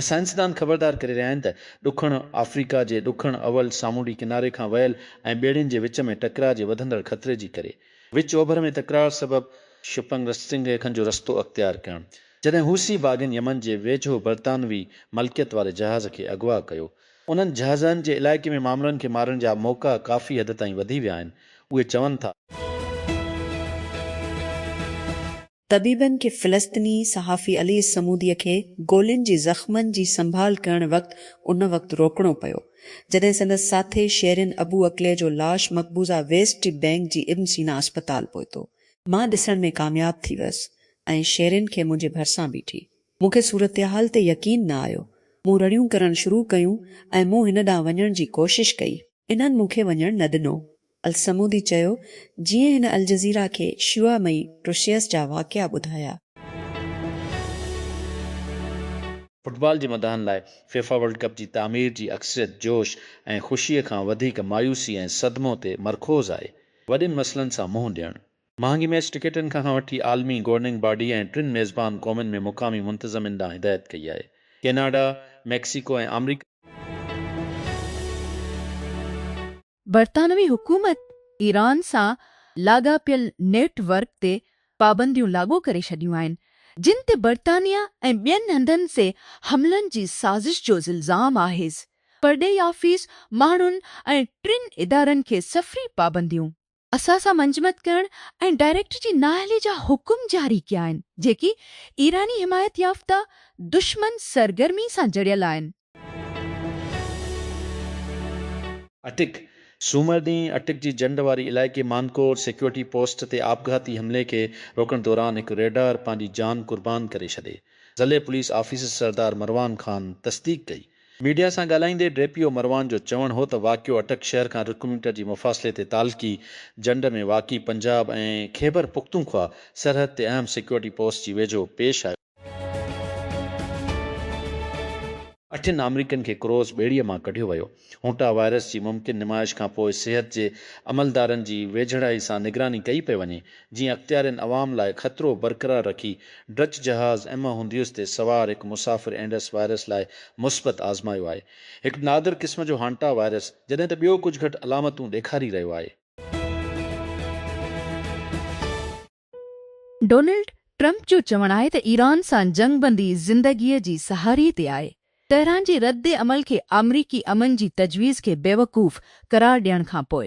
سائنسدان خبردار ڪري رهيا آهن ته ڏکڻ آفريڪا جي ڏکڻ اولھ سامونڊي ڪناري کان ويل ۽ ٻيڙين جي وچ ۾ ٽڪراء جي وڌندڙ خطري جي ڪري وچ اوڀر ۾ تڪرار سبب شپنگ رستنگهي کن جو رستو اختيار ڪيڻ جڏهن حوثي باغين يمن جي ويجهو برطانوي ملڪيت واري جهاز کي اغوا ڪيو انهن جهازن جي علائقي ۾ معاملن کي مارڻ جا موقعا ڪافي حد تائين وڌي ويا آهن، اهي چون ٿا. طبيبن کي فلسطيني صحافي علي الصمودي کي گولين جي زخمن جي سنڀال ڪرڻ وقت ان وقت روڪڻو پيو جڏهن سندس ساٿي شيرين ابو عقلي جو لاش مقبوضه ويسٽ بينڪ جي ابن سينا اسپتال پهتو مان ڏسڻ ۾ ڪامياب ٿي ويس ۽ شيرين کي منهنجي ڀرسان بيٺي مون کي صورتحال تي يقين نه آيو. مون رڙيون ڪرڻ شروع ڪيون ۽ مون هن ڏانهن وڃڻ جي ڪوشش ڪئي. انهن مون کي وڃڻ نه ڏنو. الصمودي چيو، جيئن هن الجزيره کي شيوعا مئي ٽرشيس جا واقعا ٻڌايا. فٽبال جي مداحن لاء فيفا ورلڊ ڪپ جي تعمير جي اڪثريت جوش ۽ خوشيء کان وڌيڪ مايوسي ۽ صدمو تي مرڪوز آهي. وڏين مسئلن سان منهن ڏيڻ، مهانگي ميچ ٽڪيٽن کان کان وٺي عالمي گورننگ باڊي ۽ ٽن ميزبان قومن ۾ مقامي منتظمين ڏانهن هدايت ڪئي آهي، ڪيناڊا، ميڪسيڪو ۽ آمريڪا. برطانوي حڪومت ايران سان لاڳاپيل نيٽ ورڪ تي پابنديون لاڳو ڪري ڇڏيون آهن، جن تي برطانيا ۽ ٻين هنڌن سي حملن جي سازش جو الزام آهيس، پرڏيهي آفيس ماڻهن ۽ ٽن ادارن کي سفري پابنديون. اسان سان منجمد ڪرڻ ۽ ڊائريڪٽر جي نااهلي جا حڪم جاري ڪيا آهن، جيڪي ايراني حمايت يافته دشمن سرگرمي سان جڙيل آهن. اٽڪ، سومر ڏينهن اٽڪ جي جنڊ واري علائقي مانڪور سيڪيورٽي پوسٽ تي آپگهاتي حملي کي روڪڻ دوران هڪ ريڊار پنهنجي جان قربان ڪري ڇڏي. ضلعي پوليس آفيسر سردار مروان خان تصديق ڪئي ميڊيا سان ڳالهائيندي ڊي پي او مروان جو چوڻ هو ته واقعو اٽڪ شهر کان رڪ ميٽر جي مفاصلي تي تعلقي جنڊ ۾ واقع پنجاب ۽ خيبر پختونخوا سرحد تي اهم سيڪيورٽي پوسٽ جي ويجهو پيش آيو. اٺن آمريڪين کي ڪروز ٻيڙيء مان ڪڍيو ويو. هونٽا وائرس جي ممڪن نمائش کانپوء صحت جي عملدارن جي ويجهڙائي سان نگراني ڪئي پئي وڃي. جيئن اختيارين عوام لاء خطرو برقرار رکي ڊچ جهاز ايما هونديوس تي سوار هڪ مسافر اينڊس وائرس لاء مثبت آزمايو آهي. هڪ نادر قسم جو هانٽا وائرس جڏهن ته ٻيو ڪجهه گهٽ علامتون ڏيکاري رهيو آهي. ڊونلڊ ٽرمپ جو چوڻ آهي ته ايران سان جنگ بندي زندگي جي سهاري تي آهي. تهران جي رد عمل کي آمريڪي امن جي تجويز کي بيوقوف قرار ڏيڻ کانپوء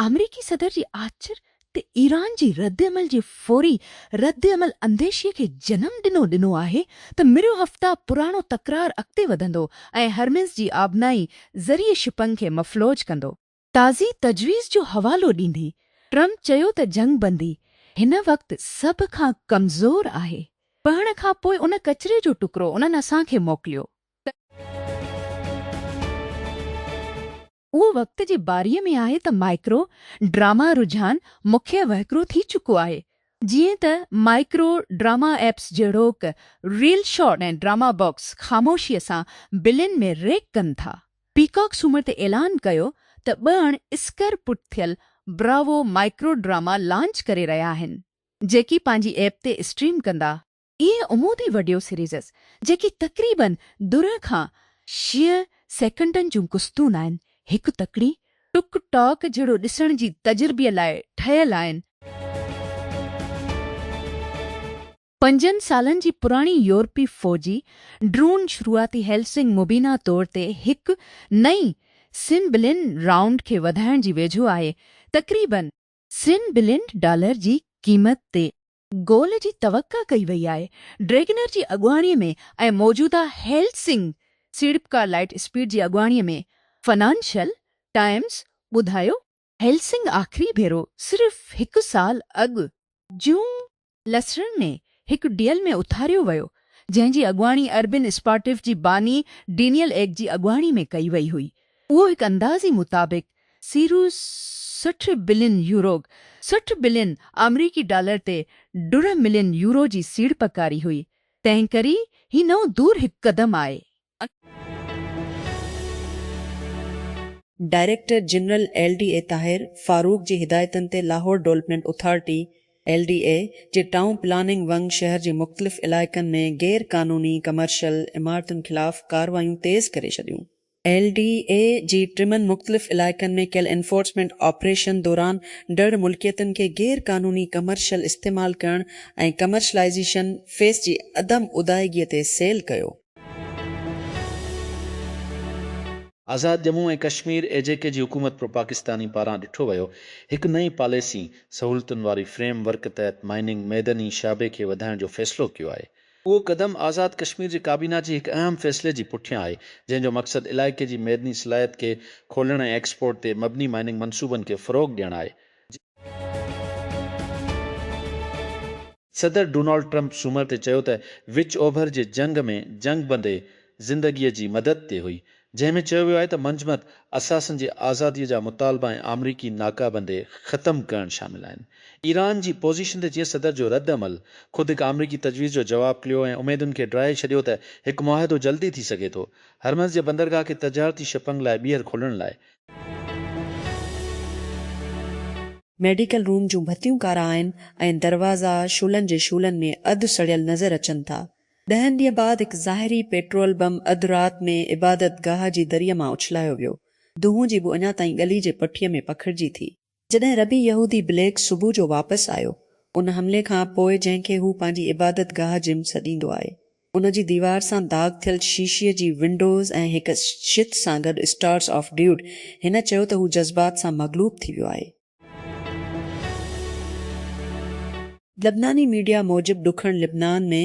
آمريڪي صدر جي آچر تي ايران جي ردعمل جي فوري ردعمل انديشي کي جنم ڏنو ڏنو آهي ته مريو هفته پراڻو تڪرار اڳتي وڌندو ۽ هرمز جي آبنائي ذريعي شپنگ کي مفلوج ڪندو. تازي تجويز جو حوالو ڏيندي ٽرمپ چيو ته جنگ بندي هن وقت سڀ کان ڪمزور آهي، پهڻ کان پوء ان ڪچري جو ٽڪرو انهن اسان کي موڪليو ته. اهو وقت جي باريء ۾ آهي ته مائڪرو ڊراما رجحان مکيه وهڪرو ٿي چڪو آهي. جيئن ته مائڪرو ڊراما ايپس جهڙوڪ ريل شاٽ ۽ ڊراما باڪس خاموشيء سان بلين ۾ ريڪ ڪن ٿا. پيڪاڪ سومر تي اعلان ڪيو ته ٻهڻ اسڪر پٽ ٿيل براوو مائڪرو ڊراما لانچ ڪري رهيا آهن، جيڪي پنهنجي ايپ تي اسٽريم ڪندا. اهي عمودي وڊيو سيريزز جيڪي تقريباً درهن کان شيء سيڪنڊن جون قسطون آهن، هڪ تڪڙي ٽڪ ٽاڪ جهڙو ڏسڻ جي تجربي لاء ٺهيل آهن. پنجن سالن جي پراڻي يورپي فوجي ڊرون شروعاتي هيلسنگ مبينا طور تي هڪ نئين سين بلين رائونڊ کي وڌائڻ جي ويجهو آهي، تقريباً سين بلين ڊالر جي قيمت تي. گول جي توقع ڪئي وئي آهي. ڊريگنر جي اڳواڻي ۾ ۽ موجوده هيلسنگ سيڙپڪار لائٽ اسپيڊ جي اڳواڻي ۾ فنانشل ٽائمز ٻڌايو، هيلسنگ آخري ڀيرو صرف هڪ سال اڳ جون لسرن ۾ هڪ ڊيل ۾ اٿاريو ويو جنهن جي اڳواڻي اربين اسپارٽف جي باني ڊينيل ايگ جي اڳواڻي ۾ ڪئي وئي هئي اهو هڪ اندازي مطابق سيرو سٺ بلين يوروگ سٺ بلين آمريڪي ڊالر تي ڊرهه ملين يورو جي سيڙپ ڪاري هئي، تنهن ڪري هي نئون دور هڪ قدم آء. Director general L D A Tahir Farooq جي هدايتن تي Lahore development authority, L D A, جي ٽائون پلاننگ ونگ شهر جي مختلف علائقن ۾ غير قانوني ڪمرشل عمارتن خلاف ڪارروايون تيز ڪري ڇڏيون. ايل ڊي اي جي ٽمن مختلف علائقن ۾ ڪيل انفورسمينٽ آپريشن دوران ڊھڙ ملڪيتن کي غير قانوني ڪمرشل استعمال ڪرڻ ۽ ڪمرشلائيزيشن فيس جي عدم ادائگي تي سيل ڪيو. آزاد ڄمون ۽ ڪشمير، اي جي ڪي جي حڪومت پروپاڪستاني پاران ڏٺو ويو هڪ نئين پاليسي سهولتن واري فريم ورڪ تحت مائننگ ميدني شعبي کي وڌائڻ جو فيصلو ڪيو آهي. اهو قدم آزاد ڪشمير جي ڪابينا جي هڪ اهم فيصلي جي پٺيان آهي، جنهن جو مقصد علائقي جي معدني صلاحيت کي کولڻ ۽ ايڪسپورٽ تي مبني مائننگ منصوبن کي فروغ ڏيڻ آهي. صدر ڊونالڊ ٽرمپ سومر تي چيو ته وچ اوڀر جي جنگ ۾ جنگ بندي زندگيء جي مدد تي هئي، جنهن ۾ چيو ويو آهي ته منجمد اثاثن جي آزادي جا مطالبا ۽ آمريڪي ناڪابندي ختم ڪرڻ شامل آهن. ايران جي پوزيشن تي چين صدر جو رد عمل خود هڪ آمريڪي تجويز جو جواب کليو ۽ اميدن کي ڊاهي ڇڏيو ته هڪ معاهدو جلدي ٿي سگهي ٿو هرمز جي بندرگاهه کي تجارتي شپنگ لاء ٻيهر کولڻ لاء. ميڊيڪل روم جون ڀتيون ڪارا آهن ۽ دروازا شعلن جي شعلن ۾ اڌ سڙيل نظر اچن ٿا. ڏهن ڏينهن بعد هڪ ظاهري پيٽرول بم اڌ رات ۾ عبادت گاهه جي دريء مان اڇلايو ويو. دونهون جي بو اڃا تائين ڳلي جي پٺيء ۾ پکڙجي ٿي. جڏهن ربي يهودي بليڪ صبح جو واپس آيو، ان حملي کان پوء جنهن کي هو پنهنجي عبادت گاهه جم سڏيندو آهي، ان جي ديوار سان داغ ٿيل شيشي جي ونڊوز ۽ هڪ شٿ سان گڏ اسٽارز آف ڊيوڊ، هن چيو ته هو جذبات سان مغلوب ٿي ويو آهي. لبناني ميڊيا موجب ڏکڻ لبنان ۾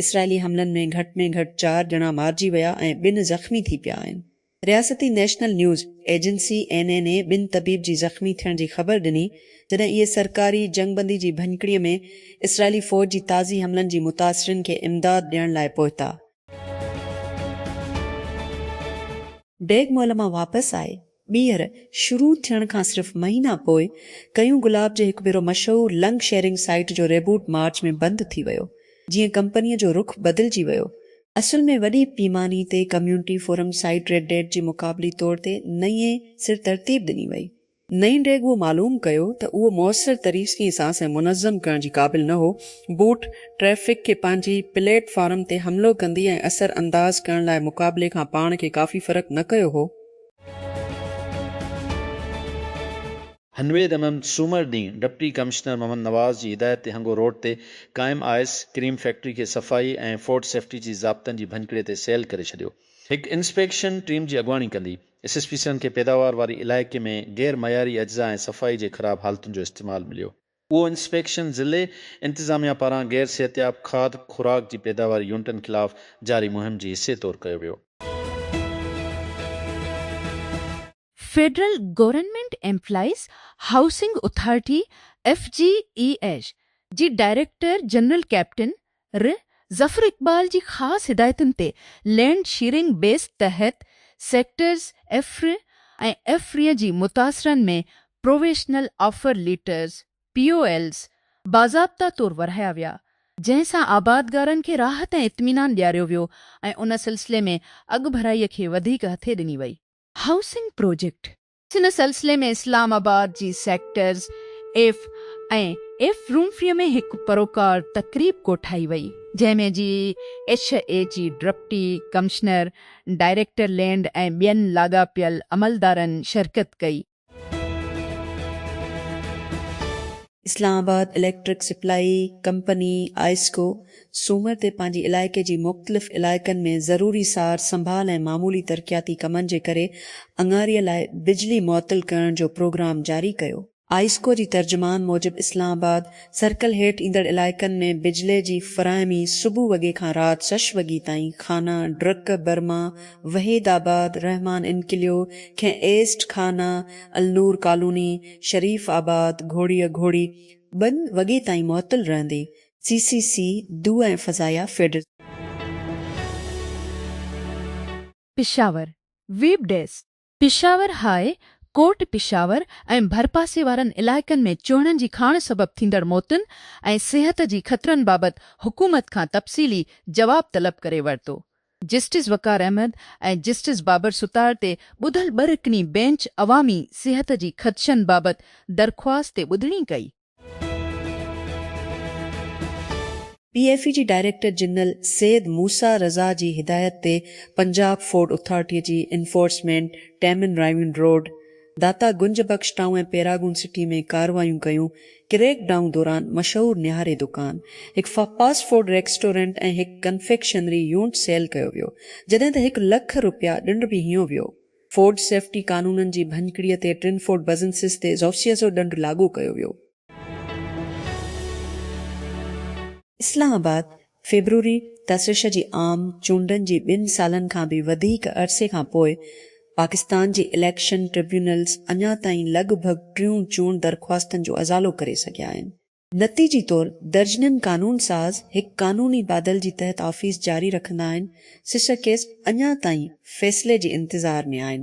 اسرائيلي حملن ۾ گهٽ ۾ گهٽ چار ڄڻا مارجي ويا ۽ ٻن زخمي ٿي پيا آهن. رياستي national news agency, N N A, ٻن طبيب جي زخمي ٿيڻ جي خبر ڏني، جڏهن اهي سرڪاري جنگبندي جي ڀڃڪڙي ۾ اسرائيلي فوج جي تازي حملن جي متاثرين کي امداد ڏيڻ لاء پهتا. ڊيگ مئل مان واپس آئي. ٻيهر شروع ٿيڻ کان صرف مهينا پوء ڪيون گلاب جي هڪ ڀيرو مشهور لنڪ شيئرنگ سائيٽ جو ريبوٽ مارچ ۾ بند ٿي ويو جيئن ڪمپنيء جو رخ بدلجي ويو اصل ۾ وڏي پيماني تي community forum site Reddit جي مقابلي طور تي نئين سر ترتيب ڏني وئي. نئين ڊيگ اهو معلوم ڪيو ته اهو موثر طريسقي سان سين منظم ڪرڻ جي قابل نه هو بوٽ ٽريفڪ کي پنهنجي پليٽ فارم تي حملو ڪندي ۽ اثر انداز ڪرڻ لاء مقابلي کان پاڻ کي ڪافي فرق نه ڪيو هو هنوير ايمم سومر ڏينهن ڊپٽي ڪمشنر محمد نواز جي هدايت تي هنگو روڊ تي قائم آئس ڪريم فيڪٽري کي صفائي ۽ فوڊ سيفٽي جي ضابطن جي ڀڃڪڙي تي سيل ڪري ڇڏيو. هڪ انسپيڪشن ٽيم جي اڳواڻي ڪندي ايس ايس پي سنڌ کي پيداوار واري علائقي ۾ غير معياري اجزا ۽ صفائي جي خراب حالتن جو استعمال مليو. اهو انسپيڪشن ضلعي انتظاميا پاران غير صحتياب کاڌ خوراڪ جي پيداواري يونٽن خلاف جاري مهم جي حصي طور ڪيو ويو. Federal government employees housing authority, F G E H, جي ڊائريڪٽر جنرل ڪئپٽن ر ظفر اقبال جي خاص هدايتن تي لينڊ شيئرنگ بيس تحت سيڪٽرز ايف ر ۽ ايف رين جي متاثرن ۾ provisional offer letters, P O Ls, باضابطا طور ورهايا ويا، جنهن سان آبادگارن کي راحت ۽ اطمينان ڏياريو ويو ۽ ان سلسلي ۾ اڳڀرائي کي وڌيڪ هٿي ڏني وئي. هائوسنگ پروجيڪٽ ان سلسلي ۾ اسلام آباد جي سيڪٽرز ايف ۽ ايف رومفري ۾ هڪ پروقار تقريب ڪوٺائي وئي، جنهن ۾ جي ايڇ اي جي ڊپٽي ڪمشنر، ڊائريڪٽر لينڊ ۽ ٻين لاڳاپيل عملدارن شرڪت ڪئي. Islamabad electric supply company, IESCO, سومر تي پنهنجي علائقي جي مختلف علائقن ۾ ضروري سار سنڀال ۽ معمولي ترقياتي ڪمن جي ڪري اڱاري لاء بجلي معطل ڪرڻ جو پروگرام جاري ڪيو. آئسڪو جي ترجمان موجب اسلام آباد سرڪل هيٺ ايندڙ علائقن ۾ بجلي جي فراهمي صبح وڳي کان رات شش وڳي تائين خانه، ڊرڪ، برما، وحيد آباد، رحمان انڪليو، کين ايسٽ، خانه، النور ڪالوني، شريف آباد، گهوڙيء گهوڙي ٻن وڳي تائين معطل رهندي، سي سي سي، دو ۽ فضايا feeder. Peshawar, web desk, Peshawar high court Peshawar ۽ ڀرپاسي وارن علائقن ۾ چهڻن جي کاڻ سبب ٿيندڙ موتن ۽ صحت جي خطرن بابت حڪومت کان تفصيلي جواب طلب ڪري ورتو. جسٽس وقار احمد ۽ جسٽس بابر ستار تي ٻڌل ٻه رڪني بئنچ عوامي صحت جي خدشن بابت درخواست تي ٻڌڻي ڪئي. پي ايف اي جي ڊائريڪٽر جنرل سيد موسيٰ رضا جي هدايت تي پنجاب فوڊ اٿارٽي جي انفورسمينٽ ٽيمن Raiwind road, Data Ganj Bakhsh town ۽ Paragon city ۾ ڪارروايون ڪيون، ڪريڪ ڊائون دوران مشهور نهاري دڪان، هڪ فاسٽ فوڊ ريڪسٽورنٽ ۽ هڪ ڪنفيڪشنري يونٽ سيل ڪيو ويو، جڏهن ته هڪ لک رپيا ڏنڊ به هنيو ويو. فوڊ سيفٽي قانونن جي ڀڃڪڙي تي ٽرنفورڊ بزنسز تي زوسيزو ڏنڊ لاڳو ڪيو ويو. اسلام آباد، فيبروري، تسش جي عام چونڊن جي ٻن سالن کان به وڌيڪ عرصي کان پوء پاڪستان جي اليڪشن ٽربيونلز اڃا تائين لڳ ڀڳ ٽيون چونڊ درخواستن جو ازالو ڪري سگهيا آهن. نتيجي طور درجنن قانون ساز هڪ قانوني بادل جي تحت آفيس جاري رکندا آهن، سسڪيس اڃا تائين فيصلي جي انتظار ۾ آهن.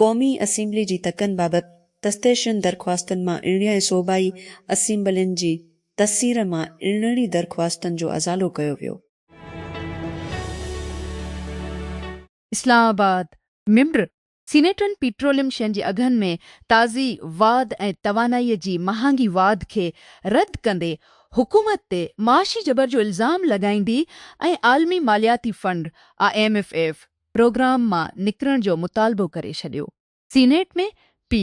قومي اسيمبلي جي تڪن بابت تستيشن درخواستن مان اڻڙي ۽ صوبائي اسيمبلين جي تسير مان اڻڙي درخواستن جو ازالو ڪيو ويو. اسلام آباد، ممبر سينيٽن پيٽروليم شين جي اگهن ۾ تازي واڌ ۽ توانائي جي مهانگي واڌ کي رد ڪندي حڪومت تي معاشي جبر جو الزام لڳائيندي ۽ عالمي مالياتي fund, I M F, programme مان نڪرڻ جو مطالبو ڪري ڇڏيو. سينيٽ ۾ پي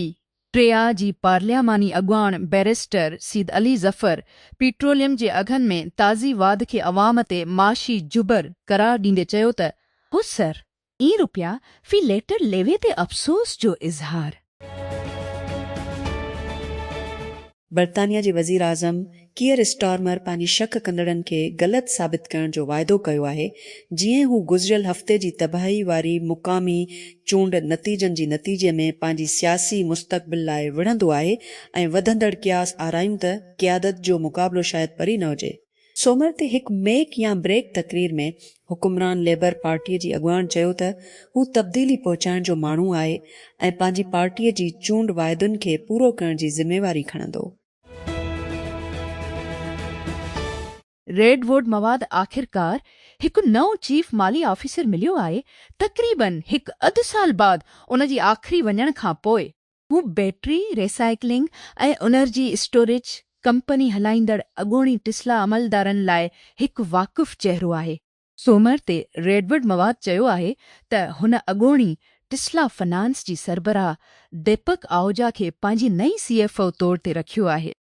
ٽي آء جي پارلياماني اڳواڻ بئريسٽر سيد علي ظفر پيٽروليم جي اگهن ۾ تازي واڌ کي عوام تي معاشي جبر قرار ڏيندي چيو ته، هو سر اين روپيا في ليٽر ليوي تي افسوس جو اظهار. برطانيا جي وزيراعظم ڪيئر اسٽارمر پنهنجي شڪ ڪندڙن کي غلط ثابت ڪرڻ جو واعدو ڪيو آهي جيئن هو گذريل هفتي جي تباهي واري مقامي چونڊ نتيجن جي نتيجي ۾ پنهنجي سياسي مستقبل لاء وڙهندو آهي ۽ وڌندڙ قياس آرايون ته قيادت جو مقابلو شايد پري نه هجي سومر تي هڪ ميڪ يا بريڪ تقرير ۾ حڪمران ليبر پارٽيء جي اڳواڻ چيو ته هو تبديلي پهچائڻ جو ماڻهو آهي ۽ پنهنجي پارٽيء جي چونڊ واعدن کي پورو ڪرڻ جي ذميواري کڻندو. ريڊ ووڊ مواد آخرڪار هڪ نئون چيف مالي آفيسر مليو آهي تقريبن هڪ اڌ سال بعد ان جي آخري وڃڻ کان پوء. هو battery recycling ۽ energy storage company هلائيندڙ اڳوڻي ٽسلا عملدارن لاء هڪ واقف چهرو آهي. سومر تي ريڊوڊ مواد چيو آهي ته هن اڳوڻي ٽسلا فنانس جي سربراهه ديپڪ آهوجا کي پنهنجي نئين سي ايف او طور تي رکيو آهي.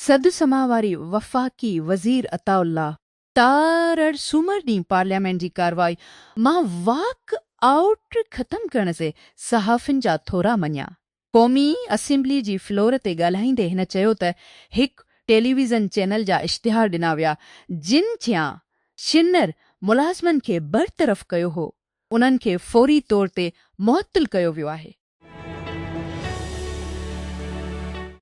سڌ سماء واري وفاقي وزير عطاء الله تارڙ سومر ڏينهن پارليامينٽ جي ڪارروائي مان واڪ آئوٽ ختم ڪرڻ تي صحافين جا ٿورا مڃيا. قومي اسيمبلي جي فلور تي ڳالهائيندي هن چيو ته هڪ ٽيليويزن چينل جا اشتهار ڏنا ويا جن چيان شنر ملازمن کي برطرف ڪيو هو انهن کي فوري طور تي معطل ڪيو ويو آهي.